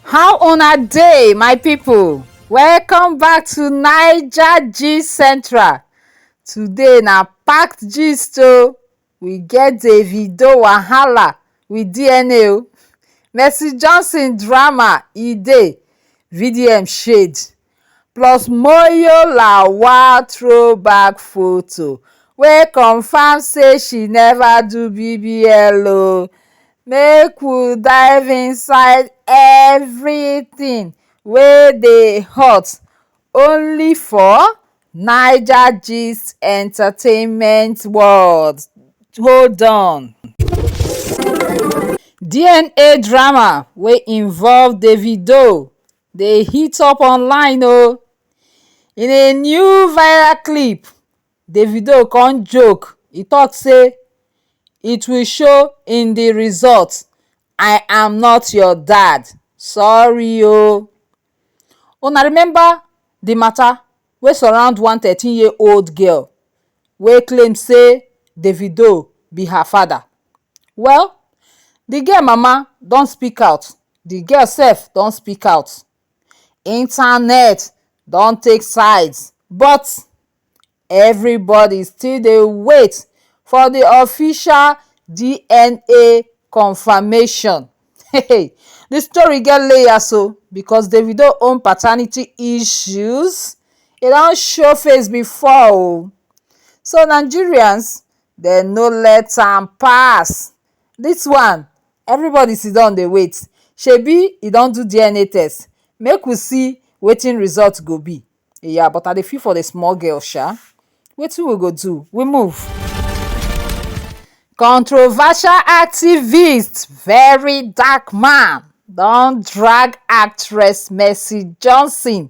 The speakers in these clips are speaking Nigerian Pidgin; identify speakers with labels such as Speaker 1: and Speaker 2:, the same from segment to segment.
Speaker 1: how una dey my people welcome back to naija gist central today na packed gist o we get davido wahala with dna o mercy johnson drama e dey vdm shade plus Moyo Lawal throwback photo wey confam say she neva do BBL o, make we dive inside everytin wey dey hot only for NaijaGist entertainment world, hold on. DNA drama wey involve Davido dey heat up online o in a new viral clip davido con joke e tok say it will show in the result i am not your dad sorry o una remember the mata wey surround one thirteen year old girl wey claim say davido be her father Well, the girl mama don speak out, the girl sef don speak out. Internet don take sides but everybody still dey wait for the official DNA confirmation. Hey, the story get layers o because Davido own paternity issues, e don show face before o. So Nigerians dem no let am pass this one everybody siddon dey wait shebi e don do dna test make we see wetin result go be yeah but i dey feel for the small girl sha wetin we go do we move controversial activist very dark man don drag actress Mercy Johnson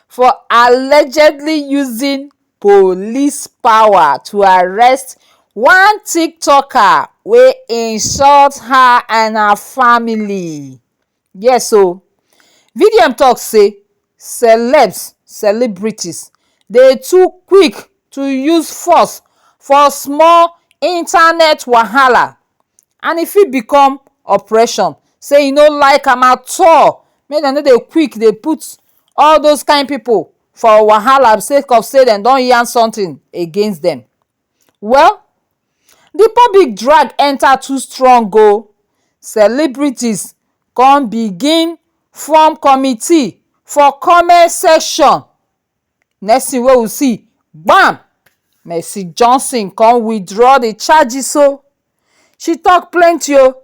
Speaker 1: for allegedly using police power to arrest one tiktoker wey insult her and her family yes o vdm talk say celebs celebrities dey too quick to use force for small internet wahala and e fit become oppression say e no like am at all make dem no dey quick dey put all those kind people for wahala sake of say dem don yarn something against dem. Well, the public drag enter too strong o, celebrities come begin form committee for comment section, next thing wey we see, gbam! Mercy Johnson come withdraw the charges o. She talk plenty oh.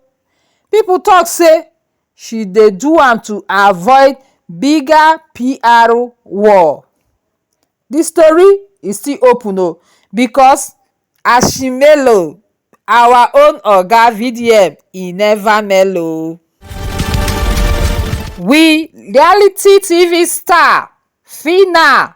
Speaker 1: People talk say she dey do am to avoid bigger PR war. The story is still open oh because Ashimelo, our own oga VDM, e never mellow. We reality TV star Phyna.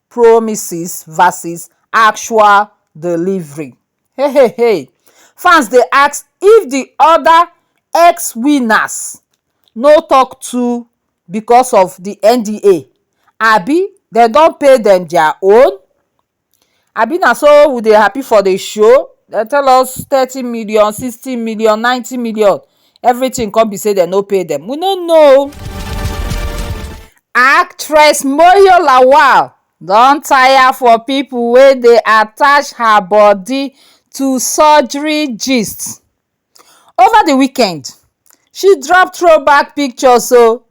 Speaker 1: promises versus actual delivery hey hey hey fans dey ask if di oda ex winners no tok too becos of di NDA abi dem don pay dem dia own abi na so we dey happy for di show dem tell us thirty million sixty million ninety million. everything come be say dem no pay dem we no know o. Actress Moyo Lawal don tire for people wey dey attach her body to surgery gist. Over the weekend, she drop throw back pictures o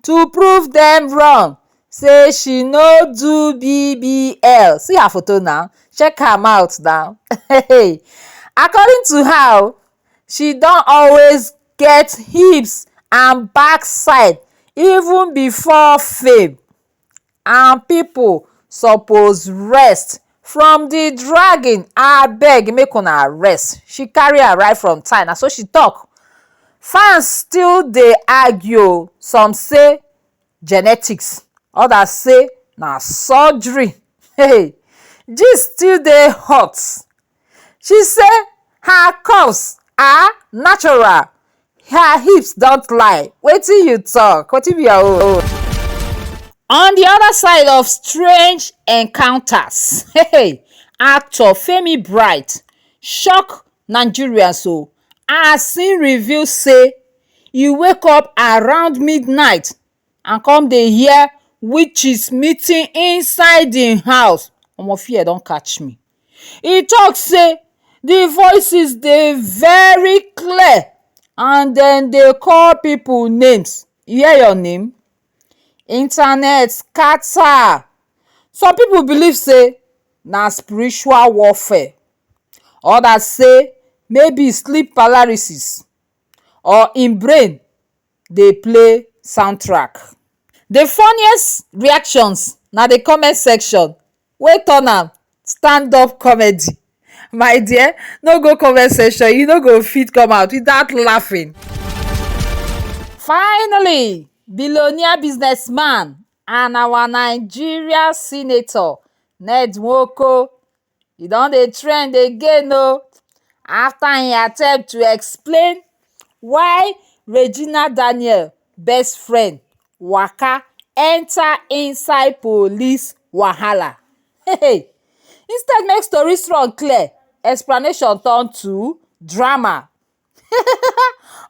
Speaker 1: to prove dem wrong say she no do BBL. See her photo now, check am out now. According to her o, she don always get hips and backside even before fame and people suppose rest from the dragging abeg make una rest she carry am right from time na so she talk fans still dey argue o some say genetics others say na surgery gist still dey hot. She say her curves are natural, her hips don't lie. Wetin you talk? Wetin be your own? On the other side of strange encounters, hey, actor Femi Bright shock Nigerians o oh, as he reveal say he wake up around midnight and come dey hear witches meeting inside him house omo fear don catch me he talk say the voices dey very clear and dem dey call people names you hear your name internet scatter some people believe say na spiritual warfare others say maybe sleep paralysis or him brain dey play soundtrack. The funniest reactions na the comment section wey turn am stand up comedy my dear no go comment section you no go fit come out without laughing. Finally billionaire business man and our Nigeria senator Ned Nwoko e don dey trend again o after im attempt to explain why regina daniel best friend waka enter inside police wahala instead make story strong clear explanation turn to drama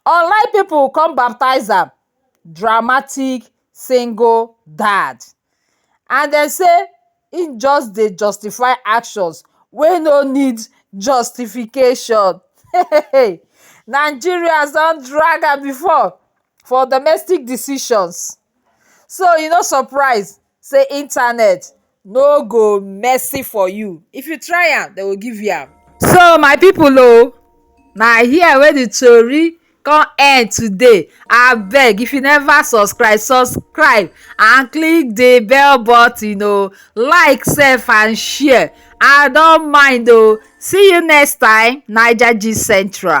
Speaker 1: online people come baptize am dramatic single dad and dem say e just dey justify actions wey no need justification Nigerians don drag am before for domestic decisions so e no surprise say internet no go mercy for you if you try am dem go give you am. so my people o na here wey the tori come end today abeg if you never subscribe subscribe and click the bell button o like sef and share i don mind o see you next time naija gist central.